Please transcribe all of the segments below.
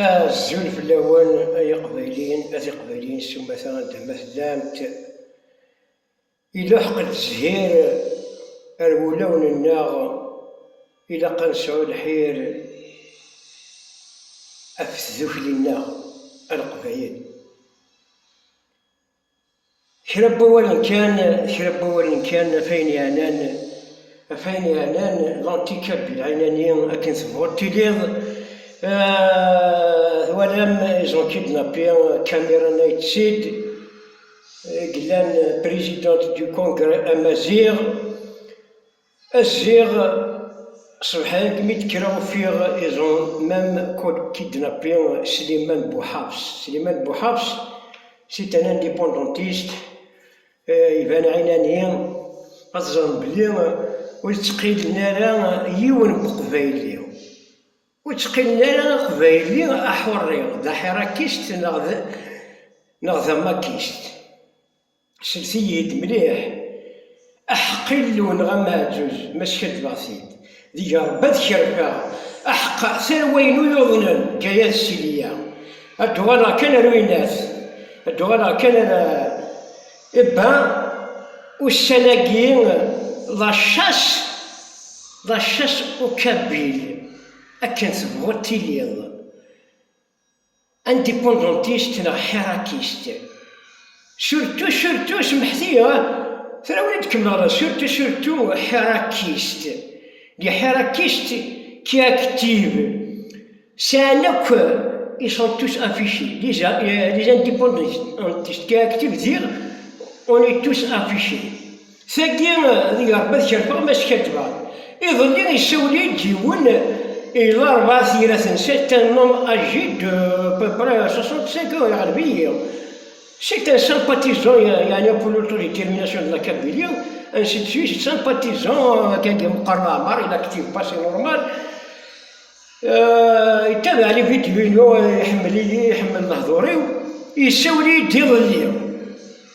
Azul fell-awen ay iqbayliyen, a tiqbayliyin s umata anda ma tellamt. Iluḥeq-d zzhir ar wulawen-nneɣ, ilaq ad nesɛu lḥir af tdukli-nneɣ a leqbayel. Kra n wawalen kan, kra n wawalen kan, af ayen yeɛnan, af ayen yeɛnan, l'antica bilɛinani akken tebɣuḍ tiliḍ, twalam ils ont kidnappé Camera Night Sid i yellan présidente du congrès amaziɣ, Ziɣ ṣebḥen-d mi d-kkreɣ ufiɣ ils ont même kidnappé Slimane Bouhabs. Slimane Bouhabs, c'est un indépendantiste, iban ɛinani, ad teẓrem belli ur ttqeyyilen ara yiwen n uqbayli, ur ttqeyyilen ara aqbayli aḥurri, d aḥirrakist neɣ d amakist. Slet-iyi-d mliḥ aḥeqq Illu neɣ ameɛǧuz, ma skaddbeɣ-t-id, deg Ṛebbi ad kerfeɣ, aḥeqq atan wayen ur yuḍnen, ǧǧa-yas Siliya, ad d-uɣaleɣ kan ar uyennat, ad d-uɣaleɣ kan ar Ebba, ussan-agi la chasse, la chasse au kabyle, akken tebɣuḍ tiliḍ. Indipundantist neɣ Ḥirakist? Surtu, surtu, semḥet-iyi, tura ur d-kemmleɣ ara, surtu, surtu, Ḥirakist. Les Hirakists qui activent sɛan akk, ils sont tous affichés, les Indipundantist qui activent, diɣ, on est tous affichés. Tagi deg Rebbi ad kerfeɣ ma skaddbeɣ. Iḍelli isawel-iyi-d yiwen i larebɛa tira tensa, c'est un homme âgé de à peu près 65 ans iɣleb-iyi, c'est un sympathisant yeɛni pour l'autodétermination de la Kabylie, ainsi de suite, sympathisant akken yemqer leɛmer, il active pas c'est normal, yettabaɛ les vidéos-inu, iḥemmel-iyi, iḥemmel lehdur-iw, isawel-iyi-d iḍelli.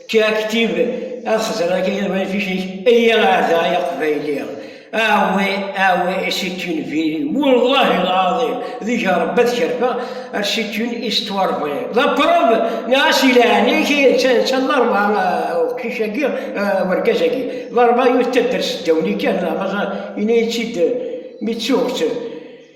Ečč aktib ad xeẓreɣ akka yal ma fic-ik, iyya ɣer da ay aqbayli, awi awi isikkin viri, wallahi lɛaḍim deg Rebbi ad kerfeɣ ar sikkin i s-ttwarebɣiɣ, d aprob neɣ a si leɛnaya-k ay netta netta d arba uqcic-agi urgaz-agi d arba yuttadder seddaw-nni kan neɣ maẓa, yenna-yi-tt-id mi ttuɣ-tt.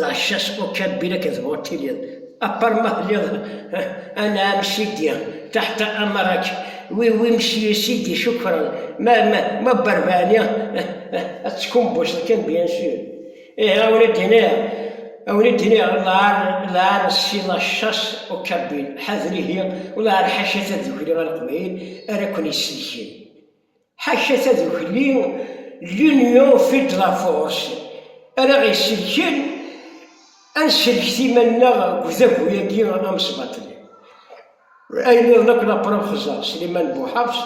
d ɛecca-s ukabbir akken tebɣuḍ tiliḍ, apar ma telliḍ Anɛam Sidi, Taḥta Amarak, wi wi Msyu Sidi Cukran, ma ma ma Berbani, ad teckumbuseḍ kan bien sûr. Ihi a wen-id-iniɣ, a wen-id-iniɣ lɛar lɛar si la chasse au kabyle, ḥader ihi, u lɛar ḥaca tadukli a Leqbayel ara ken-isellken. Ḥaca tadukli L'Union fait de la force ara ɣ-isellken ad nsellket iman-nneɣ deg udagu-agi amesbaṭli. Ayen nniḍen akk la preuve xeẓẓer Sliman Buḥafs,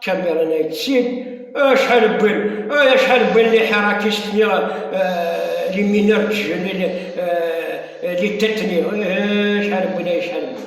Cameron Aytseed, acḥal wwin, ay acḥal wwin les Hirakistes ni les mineurs de jeunes ni les Tetnis, ay acḥal wwin, ay acḥal wwin.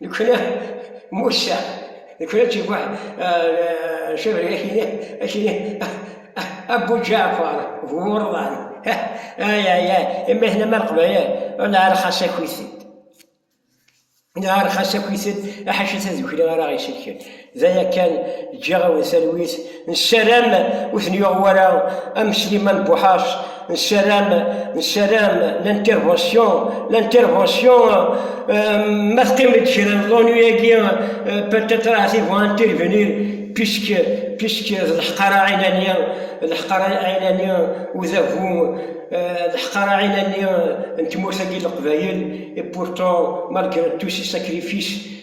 Nekkni Musa, nekkni d Buḥ, cebri akini, akini, Abu Ǧaɛfar, bu Wurḍan, ay ay ay, imi akken ma Leqbayel, neɛreq xas akit-id, neɛreq xas akit-id, ḥaca tadukli ara ɣ-iselken. D aya kan, ǧǧiɣ-awen talwit, nessaram ur ten-yuɣ wara am Sliman Buḥac, nessaram, nessaram l'intervention, l'intervention, ma teqqim-d kra n l'ennui-agi, peut-être ahat ils vont intervenir, puisque, puisque d leḥqara ɛinani, leḥqara ɛinani, udabu, leḥqara ɛinani n tmurt-agi n Leqbayel, et pourtant, malgré tous ces sacrifices,